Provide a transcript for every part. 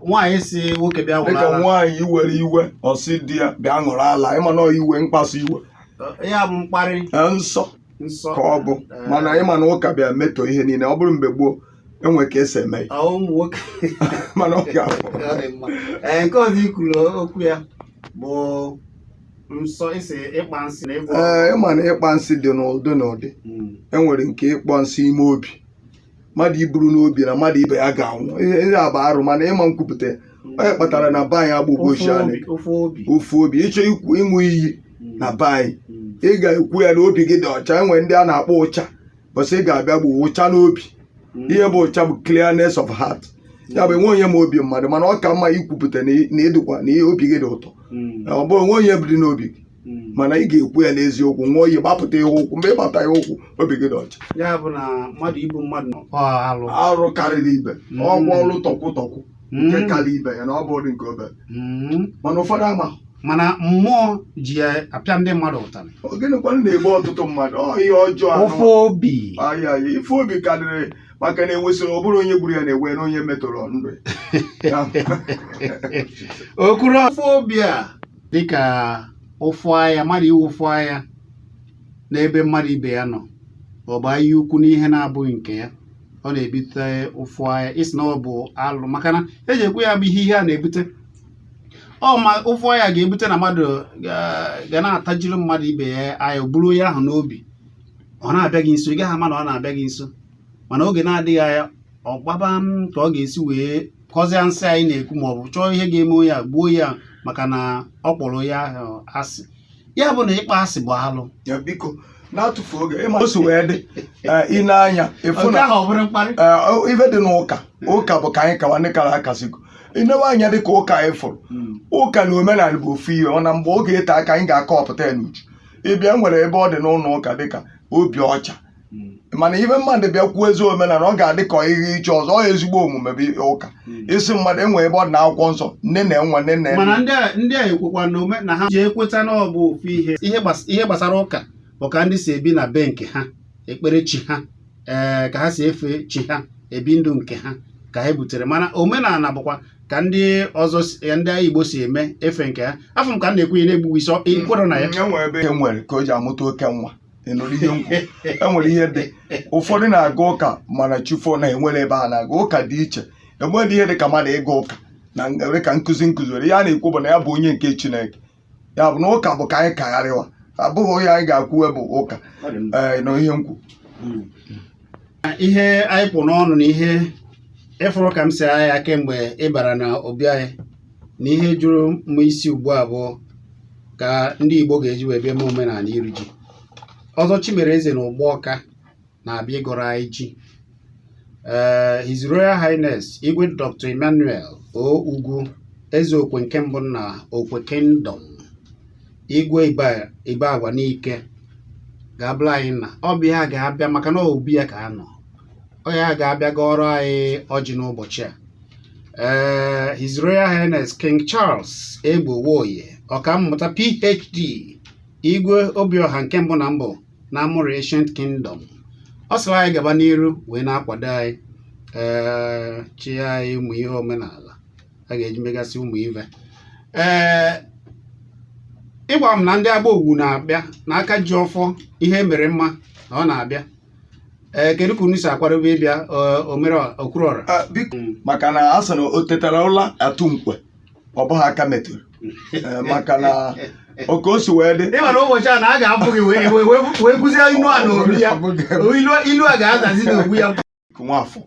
nwaanyị si nwoke bịa ṅụrụ ala dịka nwaanyị iwere iwe ọ sị di ya bịa ṅụrụ ala ịma na iwe mkpasu iwe ya bụ mkparị nsọ ka ọ bụ mana ị ma na ụka bịa metọ ihe niile ọ bụrụ mgbe gboo enwere ka e si eme mana ọ ga-abụ nke ọzọ i kwuru okwu ya bụ nsọ ị sị ịkpa nsi na ịgwọ ee ị ma na ịkpa nsi dị n'ụdị n'ụdị hmm. enwere nke ịkpọ nsi ime obi mmadụ iburu n'obi na mmadụ ibe ya ga-anwụ ihe ihe a bụ arụ mana ị ma nkwupụta onye kpatara na be anyị agbụgbọ ofu ochie obi anyị ofu obi ofu obi ịchọ ikwu ịṅụ iyi na be anyị Mm. ị ga-ekwu ya na obi gị dị ọcha enwere ndị a na-akpọ ụcha bụ sị ị ga-abịa bu ụcha n'obi Mm. ihe bụ ụcha bụ clearness of heart ya bụ enwe onye ma obi mmadụ mana ọ ka mma ikwupụta na ị- na ịdịkwa na ihe obi gị dị ụtọ Mm. ọ bụ o nwe onye bi n'obi gị Hmm. mana ị ga-ekwu ya n'eziokwu ṅụọ iyi gbapụta ya ụkwụ mgbe ị gbata ya ụkwụ obi gị dị ọcha ya bụ na mmadụ igbu mmadụ arụ arụ karịrị ibe hmm. ọ bụ arụ tọkwụ tọkwụ hmm. nke karịa ibe ya na ọ bụrọ nke obere mana ụfọdụ ama mana mmụọ ji ya apịa ndị mmadụ ụtarị gịnịkwa na-egbu ọtụtụ mmadụ ọ ihe ọjọọ ofe obi ife obi karịrị maka na enwesịrị ọ bụrụ onye gburu ya na-ewe na onye metọrọ ndụ ya o kwuru ofe obi a dịka ụfụ anya mmadụ inwe ụfụ anya n'ebe mmadụ ibe ya nọ ọ bụ anya ukwu n'ihe na-abụghị nke ya ọ na-ebute ụfụ anya ị sị na ọ bụ alụ maka na eji ekwu ya bụ ihe ihe a na-ebute ọ ma ụfụ anya ga-ebute na mmadụ ga na-atajiri mmadụ ibe ya anya buru onye ahụ n'obi ọ na-abịa gị nso ị gaghị ama na ọ na-abịa gị nso mana oge na-adịghị anya ọ gbaba mbọ ka ọ ga-esi wee kọzie nsi anyị na-ekwu ma ọ bụ chọọ ihe ga-eme onye a gbuo ya maka na ọ kpọrọ onye ahụ asị ya bụ na ịkpọ asị bụ alụ ya biko na-atụfu oge ị ma o si wee dị eh, i nee anya efu nke na ahụ ọ bụrụ mkparị eh, ife dị n'ụka ụka bụ ka anyị kawa ndị kara akasịgo i newe anya dị ka ụka anyị fụrụ ụka na omenala bụ ofu ihe ọ na mgbe oge ete aka anyị ga-akọpụta ya n'uju ị bịa e nwere ebe ọ dị n'ụlọ ụka dịka obi ọcha hmm. mana ibe mmadụ bịa kwuo ezi omenala ọ ga-adị ka ihe iche ọzọ ọ ezigbo omume bụ ụka hmm. isi mmadụ enwere ebe ọ dị n'akwụkwọ nsọ nne na enwe nne na mana ndị ụka ekwekwa na ome na ha ji ekweta na ọ bụ ofu ihe ihe gbasara ụka bụ ka ndị si ebi na be nke ha ekpere chi ha ee eh, ka ha si efe chi ha ebi ndụ nke ha ka ha butere mana omenala bụkwa ka ndị ọzọ ya ndị ala Igbo si eme efe nke ha afọ m ka m na-ekwu ihe na-ebughị isi i kwere na ya mm, e nwere ka o ji amụta oke nwa ị nụrụ ihe m kwu enwere ihe dị ụfọdụ na-aga ụka mana chefuo na enwere ebe a na-aga ụka dị iche enwere ihe dị ka mmadụ ịga ụka na were ka nkụzi nkụzi were ya na-ekwu bụ na ya bụ onye nke chineke ya bụ na ụka bụ ka anyị kagharịwa abụghị onye anyị ga-akwụ bụ ụka ị nụrụ ihe m kwu ihe anyị kpụ n'ọnụ na ihe ị fụrụ ka m si agha ya kemgbe ị bara na obi anyị na ihe juru m isi ugbu a bụ ka ndị Igbo ga-eji wee bịa eme omenala iri ji Ọzọ Chimereze na Ugbawka na-abịa ịgọrọ anyị ji ee eh, His Royal Highness Igwe Dr. Emmanuel O Ugwu eze okwe nke mbụ na okwe kingdom igwe Ibagwa Nike ga-abụla anyị na ọ bụ ya ga-abịa maka na obi ya ka a nọ ọ ya ga-abịa gọọrọ anyị ọjị n'ụbọchị a ee eh, His Royal Highness King Charles Egbo Nwoye ọkammụta PhD Igwe Obiọha nke mbụ na mbụ na Amurri Ancient Kingdom ọ sịrị anyị gaba n'iru wee na-akwado anyị ee eh, chi anyị ụmụ ihe omenala a ga-eji megasị ụmụ ive ee eh, ị gwa m na ndị agba owu na-abịa na aka ji ọfọ ihe mere mma na ọ na-abịa ee kedu ka unu si akwadobe ịbịa eh, omere okwuru ọra Ah, biko maka na a sị na o tetara ụla atụ mkwe ọ bụghị aka metụrụ Eh, maka na oke o si wee dị ịma na ụbọchị a na a ga-abụ gị wee wee- wee- wee kụzie ilu a n'obi ya ilu ilu a ga-azazi n'ogbu ya Nwafọ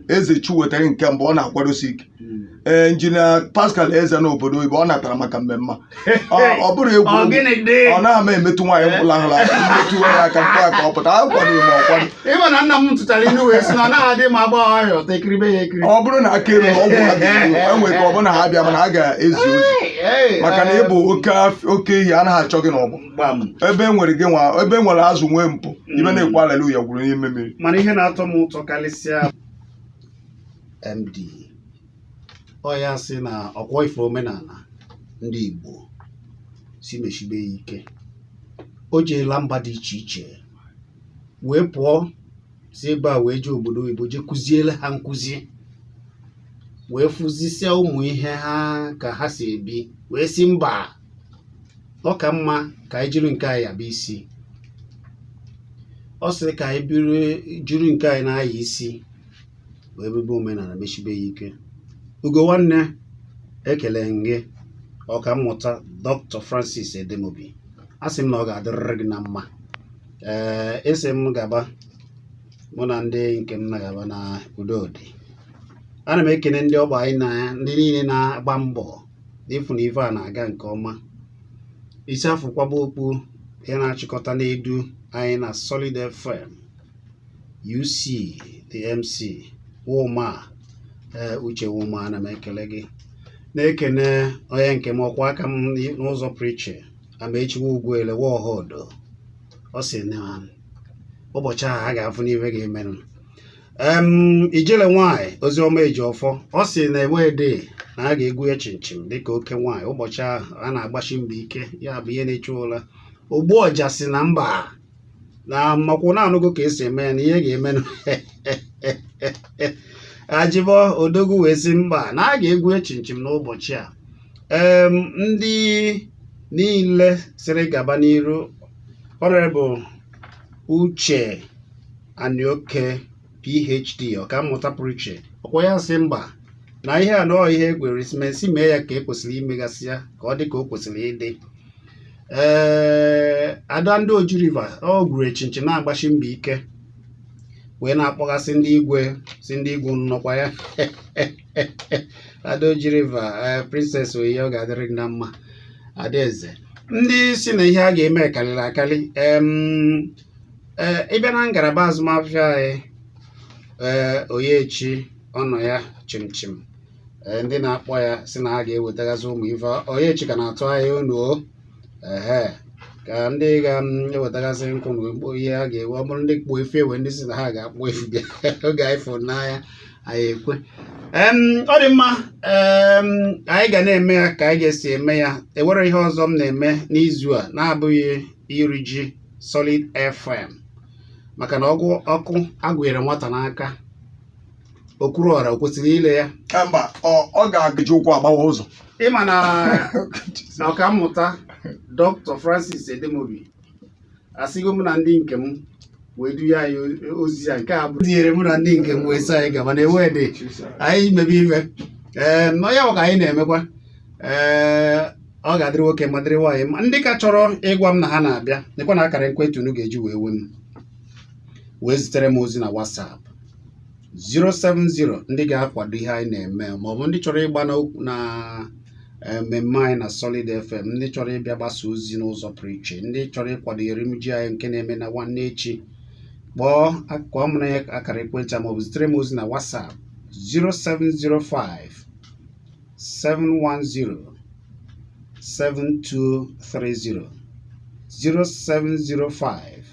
eze chu wetara nke mbụ ọ na-akwadosi ike hmm. ee eh, injinia Pascal Eze na obodo oyibo ọ natara maka mmemme ọ bụrụ egwu ọ naghị emetụ nwaanyị mkpụrụ ahụla emetụ ya aka mkpụ aka ọ pụta a kwado ma ọ kwado ịma na nna m tụtara inu wee sị na anaghị adị mma agba ọhịa ọta ekiribe ya ekiri ọ bụrụ na aka elu ọgwụ ha enwere ka ọ bụrụ na ha bịa mana ha ga-ezi ozi maka na ị bụ oke ehi anaghị achọ gị n'ọgbọ ebe e nwere gị nwa ebe e nwere azụ nwee mpụ ibe na-ekwu aleluya gwuru n'ime mmiri mana ihe na-atọ m ụtọ karịsịa MD ọ ya sị na ọkwọ ife omenala ndị Igbo si meshibe ya ike o jeela mba dị iche iche wee pụọ si ebe a wee jee obodo oyibo jee kụziele ha nkụzi wee fụzisia ụmụ ihe ha ka ha si ebi wee sị mba ọ ka mma ka anyị jiri nke anyị nyaba isi ọ sịrị ka anyị jiri nke anyị na-anya isi wee mebe omenala mesibe ya ike ugo nwanne ekele gị ọka mmụta dr francis edemobi a sị m na ọ ga-adịrịrị gị na mma ee ị sị m gaba mụ na ndị nke m na-agaba na udo dị ana m ekene ndị ọgba anyị na ndị niile na-agba mbọ n'ịfụ na ife a na-aga nke ọma isi a fụ kwaba okpu onye na-achịkọta na-edu anyị na Solid FM UC the MC Woma ee eh, Uche Woma ana m ekele gị na-ekene onye nke m ọkwa aka m n'ụzọ pụrụ iche amaechi wa ugwuele wa ohodo ọ sị na ụbọchị ahụ a ga-afụnụ ife ga-emenụ ijele nwanyị oziọma ejiọfọ ọ sị na ewedị na a ga-egwu ya chimchim dịka oke nwaanyị ụbọchị ahụ a na-agbasi mbọ ike ya bụ ihe na-echu ụla ogbu ọja sị na mba na makwụ na-anụgo ka esi eme ya na ihe ga-emenụ ajibọ odogwu wee sị mba na a ga-egwu ya chimchim n'ụbọchị a ee ndị niile sịrị gaba n'iru honourable uche anioke phd ọkammụta pụrụ iche ọ kwa ya sị mba na ihe a nọọ ihe egwere mee ya ka e kwesịrị imegasị ya ka ọ dị ka o kwesịrị ịdị ee eh, ada ndị oji river ọ gwuru ya chimchim na-agbasi mbọ ike wee na-akpọgasị ndị igwe sị ndị igwe nọkwa ya ada oji river eh, princess oyi ọ ga-adịrị na mma adaeze ndị sị na ihe a ga-eme karịrị akarị eh, a bịa na ngalaba azụmahịa anyị oyechi ọ nọ ya chimchim ee ndị na-akpọ ya sị na ha ga-ewetagasị ụmụ ife oyechi ka na-atụ anya unu o ehe ka ndị ga-ewetagasị nkwụ na ekpo ihe ha ga-ewe ọ bụrụ ndị kpụ efi ewe ndị sị na ha ga-akpụ efi bịa oge anyị fụrụ n'anya anyị ekwe Em, ọ dị mma em, anyị ga na-eme ya ka anyị ga-esi eme ya e nwere ihe ọzọ m na-eme n'izu a na-abụghị iri ji solid fm maka na ọgwụ ọkụ a gụnyere nwata n'aka o kwuru na o kwesịrị ile ya Ka mba ọ ọ ga-eji ụkwụ agbawa ụzọ ị ma na na ọkammụta dr francis edemobi asịgo mụ na ndị nke m wee duye anyị o- ozi ya nke a bụ tinyere mụ na ndị nke m wee sị anyị gaba na ewe dị anyị mebe ife ee na ya bụ ka anyị na-emekwa ee ọ ga-adịrị nwoke mma dịrị nwaanyị mma ndị ka chọrọ ịgwa m na ha na-abịa nekwanụ akara ekwentị unu ga-eji wee we m wee zitere m ozi na whatsapp 070 ndị ga-akwado ihe anyị na-eme ma ọ bụ ndị chọrọ ịgba na eh, mmemme anyị na Solid FM ndị chọrọ ịbịa gbasa ozi n'ụzọ pụrụ iche ndị chọrọ ịkwado erimji anyị nke na-eme na nwanne echi kpọọ akụkọ m na akara ekwentị a ma ọ bụ zitere m ozi na WhatsApp 0705 710 7230 0705